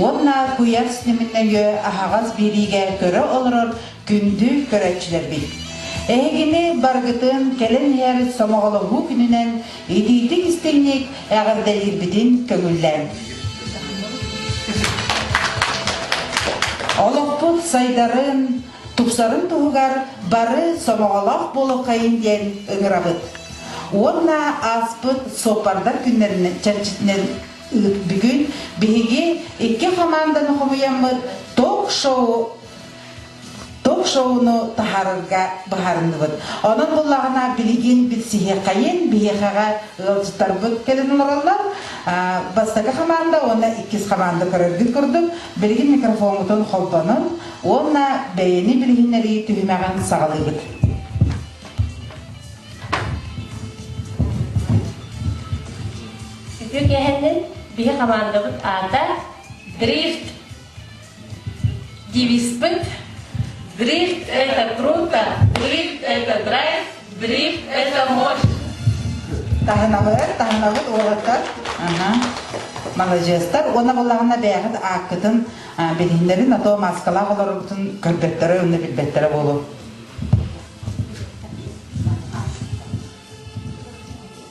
уонна куйаас ньымнэйэ аһаҕас биэриигэ көрө олорор күндү көрөөччүлэрбит. Эһигини баргытын кэлэн иһэр сомоҕолоһуу күнүнэн итиитик-истиҥник эҕэрдэлиирбитин көҥүллээн. Олохпут сайдарын, тупсарын туһугар бары сомоҕолоох буолукхайын диэн ыҥырабыт. Уонна ааспыт суоппардар күннэрин чэрчитинэн бүгүн биһиги икки хамаанданы хомуйаммыт ток-шоу ток-шоуну таһаарарга быһаарынныбыт. Онон буллаҕына билигин билсиһиэхэйин биһиэхэҕэ ыалдьыттарбыт кэлин олороллор. Бастакы хамаанда уонна иккис хамаанда көрөргүт курдук билигин микрофоммутун холбонун уонна бэйэни билиһиннэрии түһүмэҕин саҕалыыбыт. Үтүө кээһэннин биһи хамаандабыт аата Дрифт. Девиспыт Дрифт это круто, дрифт это драйв, дрифт это мощь. Таһынабыт, таһынабыт уолаттар. Маладьыастар уонна буллаҕына бэйэҕит ааккытын билиһиннэрин, а то маскалаах олоргутун көрдөттөрө уонна билбэттэрэ буолуо.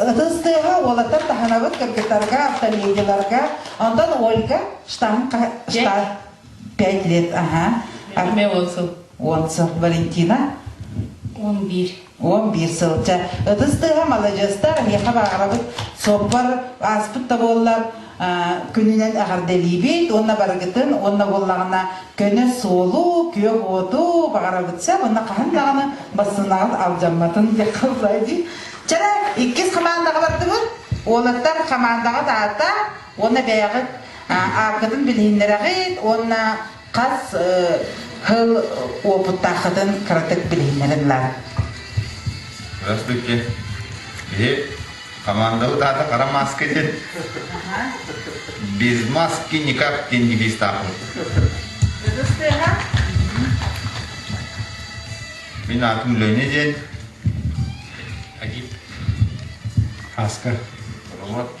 Ытыс тыаһа уолаттар таһынабыт кыргыттарга, автомедийларга. Онтон Ольга штамп штат пять лет, ага. А мне отзыв. Отзыв Валентина Он бир. он биир сылча. Ытыс тыаһа маладьыастар, эһиэхэ бааҕырабыт. Соппор ааспыт да буоллар, күнүнэн эҕэрдэлиибит уонна барыгытын уонна буоллаҕына көнө суолу күөх уоту баҕарабытса уонна хаһан даҕаны бассынааҕыт алдьамматын диэххэ баҕай дии чара иккис хамаандаҕа бардыбыт уолаттар хамаандаҕыт аата уонна бэйэҕит аапкытын билиһиннэрэҕит уонна Хас сыл уопуттааххытын кыратык билиһиннэриллэҕин. Раз бүкке. Биһи командабыт аата Хара маска диэн. Без маски никак диэн девизтаахпыт. Мин атым Леня диэн. Хаска. Вот.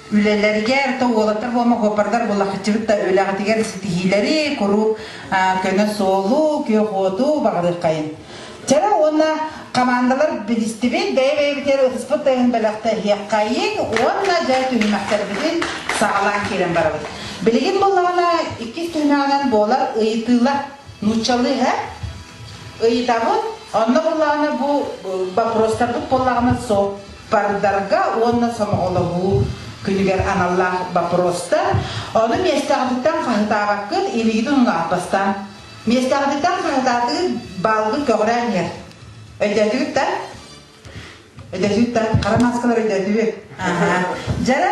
үлэлэригэр то уолаттар буома куоппардар буллахчыбыт да үлэҕитигэр ситиһиилэри куруук көнө суолу күөх уоту баҕадыххайын Чара уонна командалар билистибит бэйэ-бэйэбитигэр ытыспыт тайын бэлэхтэһиэххэйин уонна дьэ түһүмэхтэрбитин саҕалаан киирэн барабыт. Билигин буллаҕына иккис түһүмэҕинэн буолар ыйытыылар нууччалыы ыйытабыт. Онно буллаҕына бу бопростарбыт буоллаҕына суох Бардарга уонна сомоҕолоһуу күнүгэр аналлаах боппуруостар, ону миэстэҕититтэн хаһытаабаккыт, илиигит унунаҕар бастаан. Миэстэҕититтэн хаһытаатыгыт баалгыт көҕүрээн иһэр. Өйдөөтүгүт да? Өйдөөтүгүт да? Хара мааскалар өйдөөтүгүт? Дьара,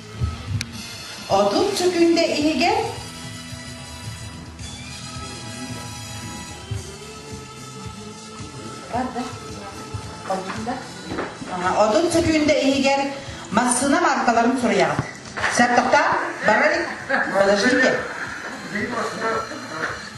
Отут сүкүндэ иһигэр отут сүкүндэ иһигэр массыына мааркаларын суруйаҕын. Сэр тоқтаа, бара подождите.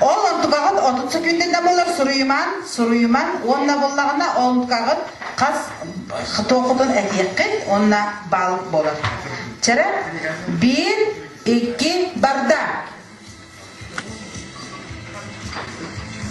Ол онтукаҕыт отут секундина болар суруйуман, суруйуман уонна буллаҕына онтукаҕыт хас туоххутун этиэххит уонна бал болар. Чара bir, iki, barda.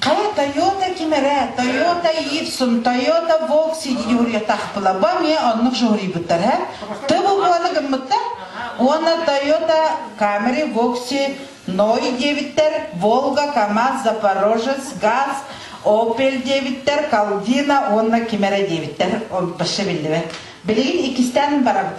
Хара Тойота ким эрэ Тойота Ивсон Тойота Волк сиди жуһуруйатахпыла бу эмиэ оннук жуһуруйбуттар һэ тыбы буола гыммыттар уонна Тойота Камери Вокси Ной диэбиттэр Волга Камаз Запорожец Газ Опель диэбиттэр Калдина уонна ким эрэ диэбиттэр вообще биллибэт билигин иккистээн барабыт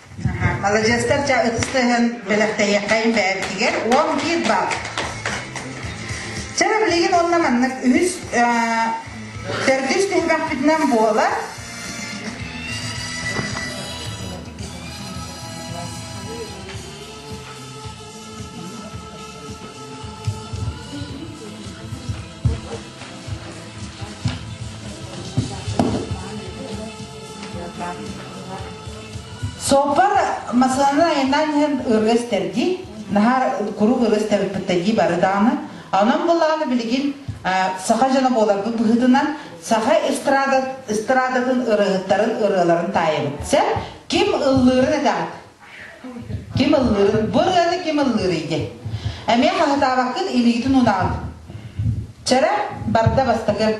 Маладьыастар, дьэ, ытыс тыһын бэлэхтэйиэххэйин бэйэбитигэр уон биир бал. Чэ, билигин онно маннык үһүс төрдүс түһүмэхпитинэн буолар. Суоппар массаанын айаннаан иһэн ырыа истэрди, наһаа куруук ырыа истэбиппиттэрдии бары даҕаны. Онон былааны билигин саха дьоно буоларбыт быһыытынан саха эстрада, эстрадатын ырыаһыттарын ырыаларын таайабыт. Сэр, ким ыллыырын этэҕит? Ким ыллыырын? Бу ырыаны ким ыллыырый ди? Эмиэ хаһытаабаккын илиитин унаҕын. Чэрэ, барда бастакы.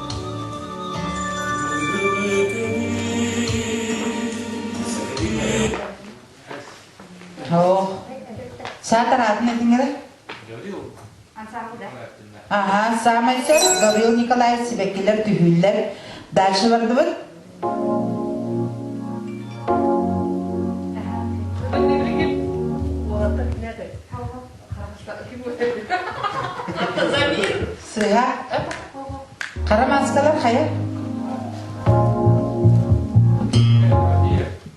Оо, саатар аатын этиңэрэ? Ага, саамай сор Гаврил Николаевич сибэккилэр түһүүллэр. Дальше бардыбыт? Сыһа. Хара маскалар хайа?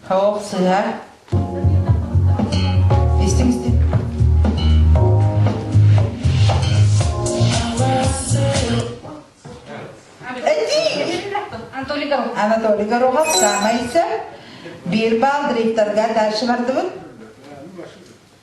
Хоп сыһа. Истин истин. Анатолий Горохов саамайса биир баал директорга дальше бардыбыт.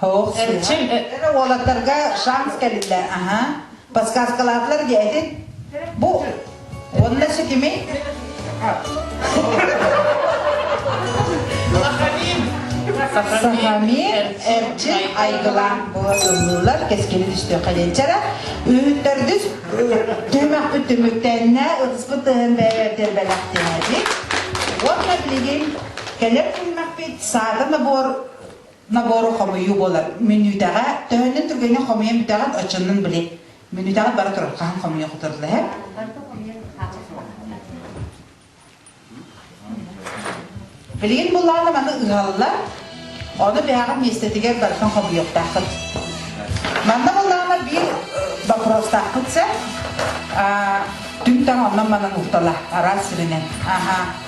Һуох Эрчи, э, уолаттарга шанс кэллэ. Аха. Подсказкалаатылар диэ этин. Бу уонна ситими. Сахами Эрчи Айгыла буолуллар кескини түстүөх каденчара үүттердүс түмэхпүт түмүктэннэ ытыспыт тыһын бэйэтер бэлэхтээди уонна билигин кэлэр күнмэкпит саата набор набору хомуйуу буолар. Мүнүүтэҕэ төһөннүн түргэнин хомуйан бүтэҕин очуннун били. Мүнүүтэҕэ бары турар хаһан хомуйа хотурлаһар. Билигин буллааны маны ыһаллар, ону бэһэҕин миэстэтигэр барытын хомуйуохтааххыт. Манна буллааны биир бопуруостаахпыт сэ, түҥ таҥ оннун манан уhtала, араас сиринэн. Аха,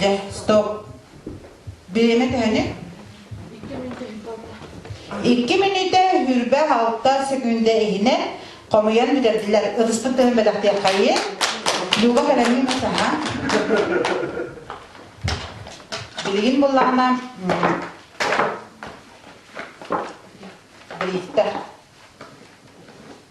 Дьэ, стоп. Бэйэмэ тэһэни. Икки мүнүүтэ хүрбэ алта секунда иһинэн хомуйан бүтэрдилэр. Ытыспыт тыһын бэтэхтиэххайы. Люба кэлэмин масаха. Билигин буллаҕына бириттэ.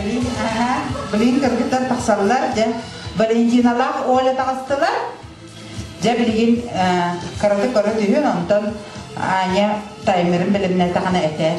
Блин, ага, блин, кыргыттар тахсаллар, дьэ, Валентиналаах Оля таҕыстылар. Дьэ, билигин карате көрө түһүн, онтон Аня таймерын бэлэмнэтэҕина этэр.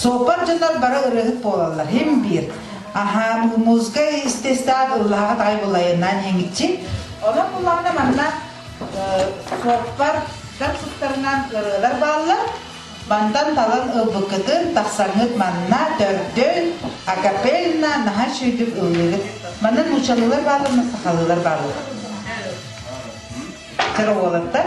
Суоппар дьонор бары ырыаһыт буолаллар. Хим биир. Аһаа, музыка естестват ыллаҕат ай булайынан хиҥиччи. Олан буллаҕына манна суоппар сыттарынан ырыалар бааллар. Бантан талан ылбыккытын тахсаҥҥыт манна төрдүн акапельна наһа шүйдүк ыллыгыт. Манна нучалылар бааллар, сахалылар бааллар. Чароволаттар.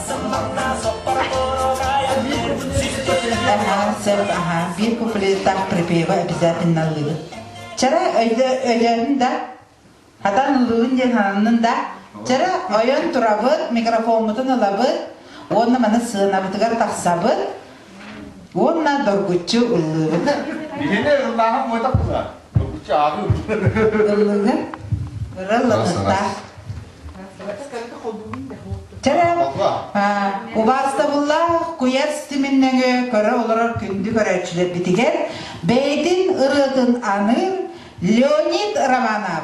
Аһаан сөп, аһаан. Биир куплеттаах припева обязательно ылыыбыт. Чара өйдөөн да, хатан ылыыбын диэн сананнын да, чара ойон турабыт, микрофоммутун ылабыт, уонна маны сыанабытыгар тахсабыт, Уонна доргуччу ыллыырыгар Билиэнэ ыллааһын буотах була. Доргуччу ааҕыы. ыллыыр ыра ыллатыктаах. Чара убаастабыллаах куйас тиминнэҥи көрө олорор күндү көрөөччүлэрбитигэр бэйэтин ырыатын аныыр Леонид Романов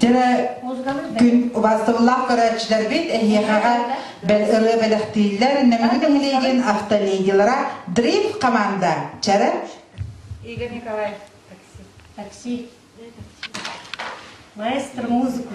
Дьэ, күн убастыбыллаах көрөөччүлэрбит эһиэхэҕэ ырыа бэлэхтииллэр Нөмүгү нэһилиэгин автолигилара Дрифт команда Чэрэ Игорь Николаев такси такси маэстро музыку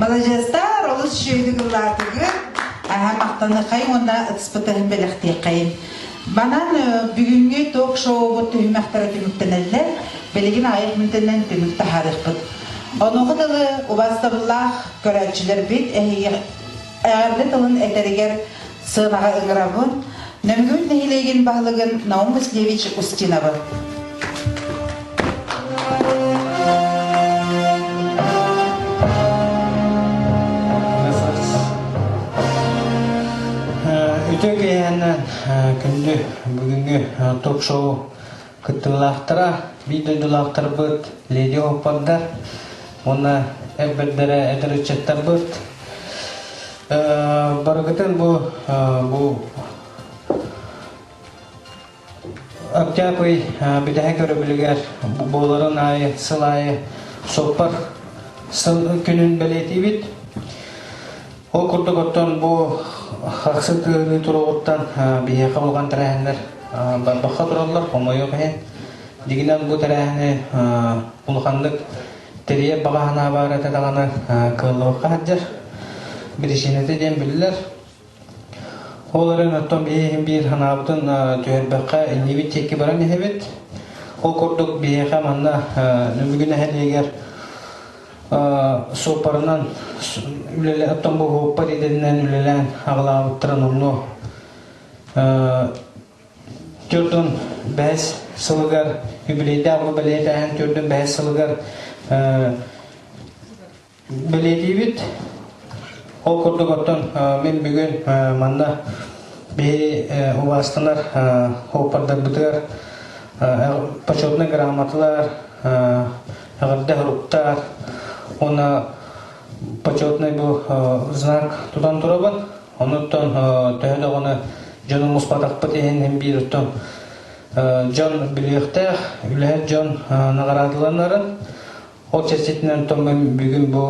Маладьыастар олус үчүгэйдик ыллаатыгын аһа махтаныххайын уонна ытыспытын бэлэхтиэххэйин. Манан бүгүҥҥү ток-шоубут түһүмэхтэрэ түмүктэнэллэр. Билигин айыт мүнтэнэн түмүк таһаарыахпыт. Онугу дылы убастабыллаах көрөөччүлэрбит эһиги эҕэрдэ тылын этэригэр сыанаҕа ыҥыраҕын, Нөргүн нэһилиэгин баһылыгын Наум Васильевич Устиновы, Үтүө киэһэни күндү бүгүнҥү ток-шоу Кыттыылаахтара, биир дойдулаахтарбыт леди-хоппардар уонна эр бэрдэрэ эдэр ыччаттарбыт барыгытын бу бу Октябрь бүтэһик өрөбүлүгэр буоларын аайы сыл аайы соппар сыл күнүн бэлиэтиибит. Ол курдук оттон бу хахсы тыаһыныы туруоҕуттан биһиэхэ булган тэрээһиннэр барбахха тураллар, хомойуох иһин. Дигинэн бу тэрээһини улаханнык тэрийэр баҕа санаабар этэ даҕаны кыаллыбакка сылдьар. Биричиинэтэ диэн биллэр. Ол эрэн оттон биһиэхин биир санаабытын түһэрбэххэ иннибит тиэкки баран иһэбит. Ол курдук биһиэхэ манна Нөмүгү нэһилиэгэр суоппарынан үлэлэһэттон буһуппат идэннэн үлэлээн аҕалаабыттарын онно төрдүн бэһис сылыгар юбилейдаах бэлиэтээһин төрдүн бэһис сылыгар бэлиэтиибит ол курдук оттон мен бүгүн манна биһи убаастанар оппардарбытыгар почетнай грамоталар аҕырда уруктаар уонна почетный бу знак тутан турабын онуттан төһө даҕаны дьонум муспатахпыт иһин биир оттон дьон билиэхтээх үлэһит дьон наҕараадаланарын ол чэрчитинэн томмун бүгүн бу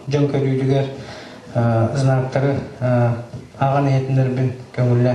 дьон көрүүтүгэр знактары аҕан иһитиннэрбин көҥүллэ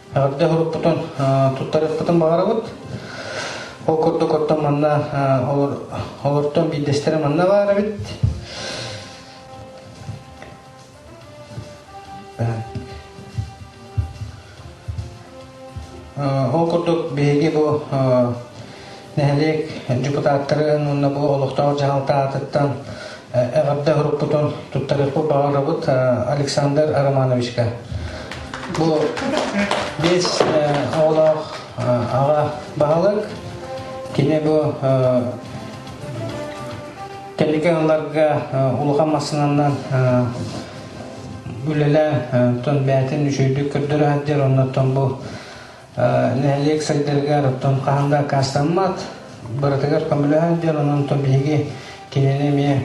Аргыда һуруппутун туттарыахпытын баҕарабыт. Ол курдук оттон манна олортон биирдэстэрэ манна баар эбит. Ол курдук биһиги бу Нэһилиэк депутаттарын уонна бу олохтоох дьаһалта аатыттан эҕэрдэ уруккутун туттарыахпын баҕарабыт Александр Романовичка. Бу биэс оҕолоох аҕа баһылык. Кини бу Тэлигэ ыларга улахан массыынанан үлэлэ тон бээтин үчөйдүк көрдөрө сылдьар оннуттан бу нэһилиэк сайдарыгар, оттон хаһан да аккаастаммат, барытыгар көмөлөһөн диэн онон то биһиги кинини эмиэ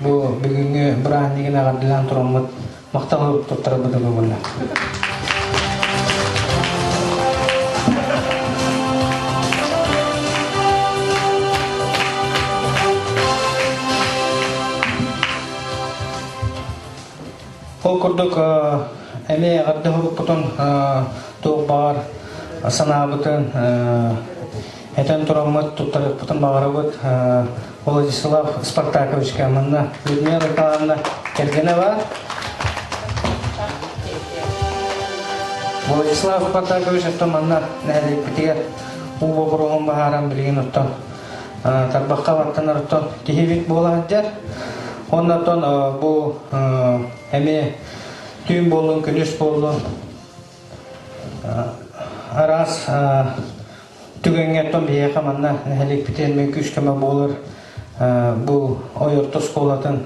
бу бүгүҥҥү бырааһынньыгын эҕэрдэлээн тураммыт махтал уруттуттара бытыгы булла. Ол курдук эми эҕэрдэһоруппутун туох баҕар санаабытын этэн тураммыт, туттарыахпытын баҕарабыт. Владислав Спартаковичка, манна Людмила Михайловна Кэргэнова. Владислав Спартакович оттон манна нэһилиэкпитигэр уу бобуруһун баһааран билигин оттон тарбахха баттанар оттон киһибит буола сылдьар уонна оттон бу эмиэ түүн буоллун күнүс буоллун араас түгэҥҥэ оттон биһиэхэ манна нэһиликпитин мин күүскэме буолар бу ойорто оскуолатын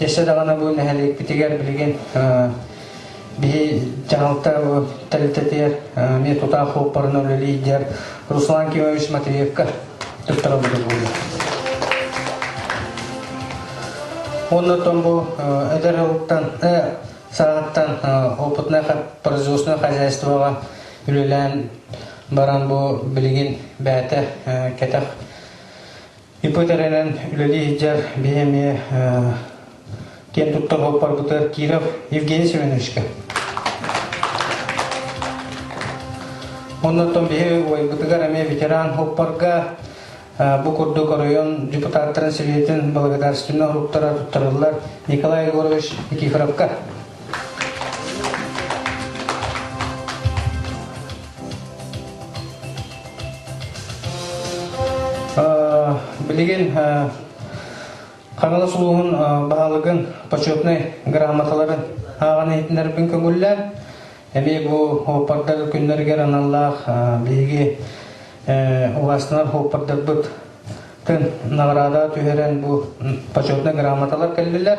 Өссө даҕаны бу нэһилиэкпитигэр билигин биһи дьаһалта тэрилтэтигэр эмиэ тутаах уоппарынан үлэлиидэр Руслан Кимович Матвеевка туттарабыт буолуо. Оннотон бу эдэр жылыттан саҕаттан опытнай производственное хозяйствоҕа үлэлээн баран бу билигин бээтэ кэтэх Ипотеканан үлэлии сылдьар биһи эмиэ киэн туттар уоппарбытыгар Киров Евгений Семеновичка. Оннортон биһи уойбутугар эмиэ ветеран уоппарга бу курдук оройон депутаттарын Советин благодарственный уруктарар туттарыллар Николай Егорович Никифоровка. Билигин Ханалас улууһун баһылыгын почетнай грамоталарын ааҕан иһитиннэрбин көҥүллээн, эмиэ бу оппардар күннэригэр аналлаах биһиги улаастынар оппардарбыт тын награда түһэрэн бу почетнай грамоталар кэллилэр.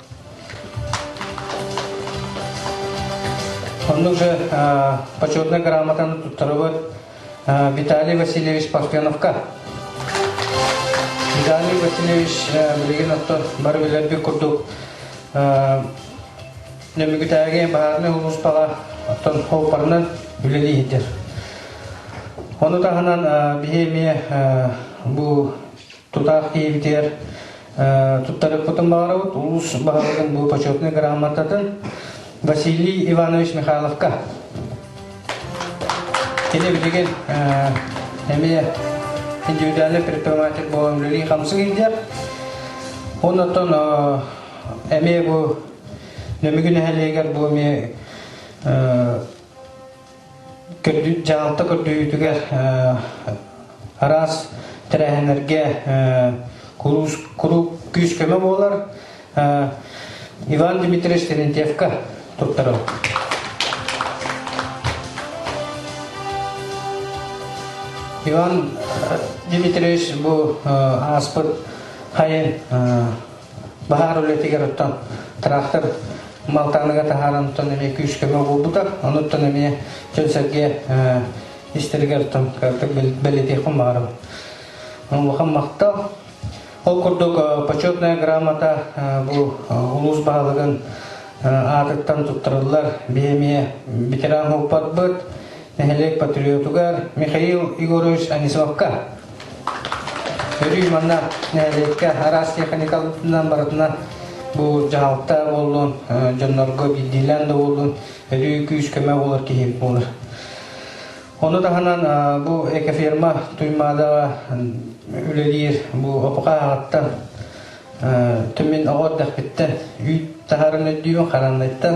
Онно уже почетной грамотаны туттарыбыт Виталий Васильевич Пафеновка. Виталий Васильевич билигин отто бары билэрбир курдук Нөмүгүтээге баарны улууспала оттон хооппарынан үлэлейдер. Ону таһынан биһи эмиэ бу тутаах киһибитигэр туттарыппытын баҕарабыт улуус баһылыгын бу почетнай грамотатын Василий Иванович Михайловка. Кини билигин эмиэ индивидуальный предприниматель буола үлэлии хамсы келдер. Оннотон эмиэ бу Нөмүгү нэһэлиэгер бу ми дьаһалта көрдөһүүтүгэр араас тэрээһиннэргэ куруук күүс-көмө буолар Иван Дмитриевич Терентьевка туттарылар. Иван Дмитриевич бу ааспыт хайын баһаар үлэтигэр оттон тыраахтар малтааныга таһааран оттон эмиэ күүскэбэ буолбута онуттан эмиэ дьон сэргэ истэригэр оттон картык бэлэтиэххин баарым улахан махтал ол курдук почетная грамота бу улуус баһылыгын аатыттан туттарыллар биһи эмиэ ветеран уоппатбыт нэһилиэк патриотугар Михаил Егорович Анисовка, өрүү манна нэһилиэккэ араас техникаларынан барытынан бу дьаһалта буоллун, дьоннорго билдиилээн да буоллун, өлүү күүс-көмө буолар киһи буолар. Ону таһынан бу экоферма Туймадаҕа үлэлиир бу опукааҕаттан Түмин оҕор дэхпиттэн үүт таһарын өйдүүн харанныттан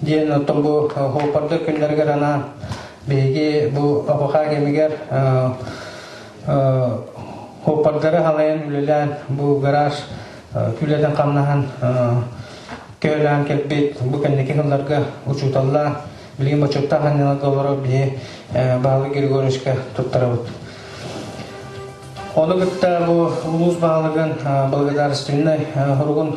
Диэн оттон бу Хуоппарда күннэригэр анаан биһиги бу АБХ кэмигэр Хуоппардары халайан үлэлээн бу гараж үлэтин хамнаһан көһөлөөн кэлбит бу кэнники кылларга учууталлаан билигин бочуоттаах анньаларга олорор биһи Баһылай Григорьевичка туттарабыт. Ону кытта бу улуус баһылыгын благодарственнай хоругун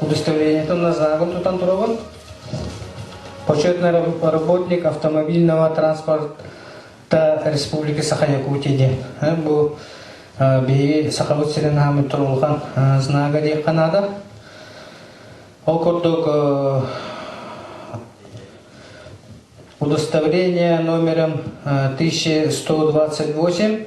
Удостоверениетын назагын тутан турабын. Почетный работник автомобильного транспорта Республики Саха Якутия диэн. Бу биһиги Сахабыт сирин хааммыт турулхан знага диэххэ наада. Ол курдук удостоверение номером 1128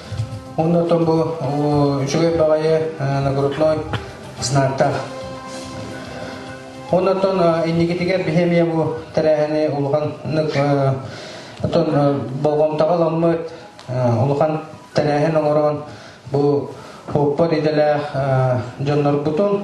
Онно оттон бу үчүгэй баҕайы нагрудной знактах. Онно оттон иннигитигэр бихемия бу тэрээһини улаханнык оттон болҕомтоҕо ламмыт улахан тэрээһин оҥорон бу оппот идэлээх дьоннорбутун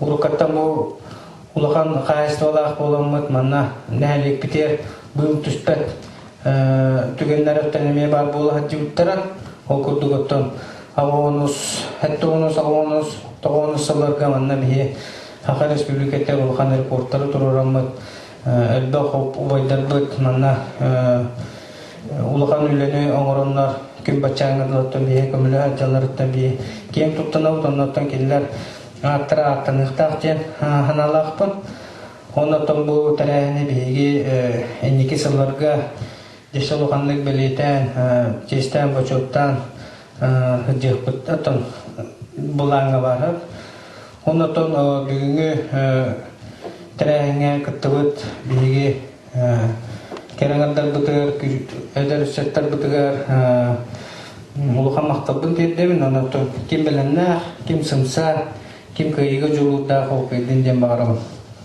Уруккаттан бу улахан хаһаайыстыбалаах буоламмыт, манна нэһилиэкпитигэр быыл түспэт түгэннэр өттөн эмиэ баар буола сылдьыбыттара. Ол курдук оттон Авонус, Хеттонус, Авонус, Тоҕонус сылларга манна биһи Аха Республиката улахан рекордтары туруораммыт элбэх убайдарбыт манна улахан үлэни оҥороннор күн баччааҥҥытыттан бие көмөлө сылдьалларыттан бие киэҥ туттанабыт оннуттан кинилэр ааттара ааттаныахтаах диэн санаалаахпын оннуттан бу тэрээһини биһиги инники сылларга дьэс улаханнык бэлиэтээн чиэстээн бочуоттаан дьыыппыттан былааҥҥа барар. Онотон бүгүҥҥү тэрээһиҥҥэ кыттыбыт биһиги кэрэҥэрдарбытыгар, эдэр ыччаттарбытыгар улахан махталбын тиэрдэбин. Онотон ким бэлэмнээх, ким сымса, ким кыайыыга дьулуурдаах ол кыайдын диэн баҕарабын.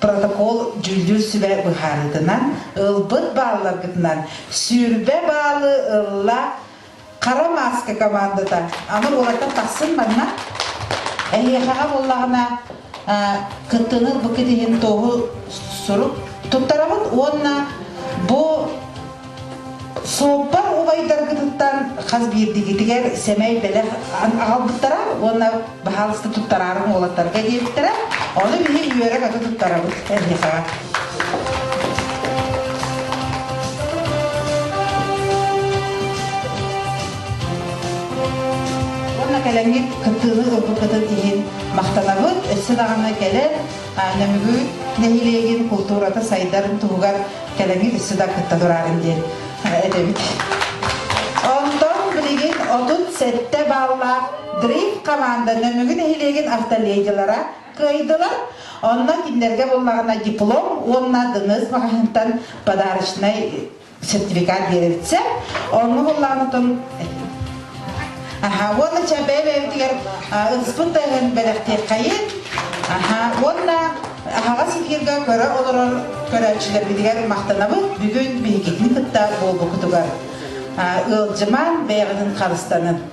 Протокол дьүүллүүр сүбэ быһаарыытынан ылбыт баалларгытынан сүүрбэ баалы ылла хара мааска командата аны уолаттар тахсын манна эһиэхэҕэ буоллаҕына кыттыны бу иһин тоһу сурук туттарабыт уонна бу Суоппар убайдаргытыттан хас биирдигитигэр сэмэй бэлэх аҕалбыттара уонна баһаалыста туттараарым уолаттарга диэбиттэрэ. Ону биһи үөрэ-көтө туттарабыт НДК-га. Уонна кэлэҥҥит кыттыыны ылбыккытын иһин махтанабыт. Өссө даҕаны кэлэн Нөмүгү нэһилиэгин култуурата сайдарын туһугар кэлэҥи өссө да кытта тураарын диэн этэбит. Онтон билигин отут сэттэ баллаах Дрифт команда Нөмүгү нэһилиэгин автолегилара кыайдылар. Онно кинилэргэ буллаҕына диплом уонна дыныс маҕаһыынтан подарочнай сертификат биэрэрцэ онно холлаанытын аха уонна ча бэйбэйбитигэр ыспыт тыһын бэлэхтиэххайын аха уонна аһаҕас сикииргэ көрө олорор көрөөччүлэрбитигэр махтанабыт бүгүн биһигитин кытта буолбукутугар ыалдьыман бэйэҕитин харыстанын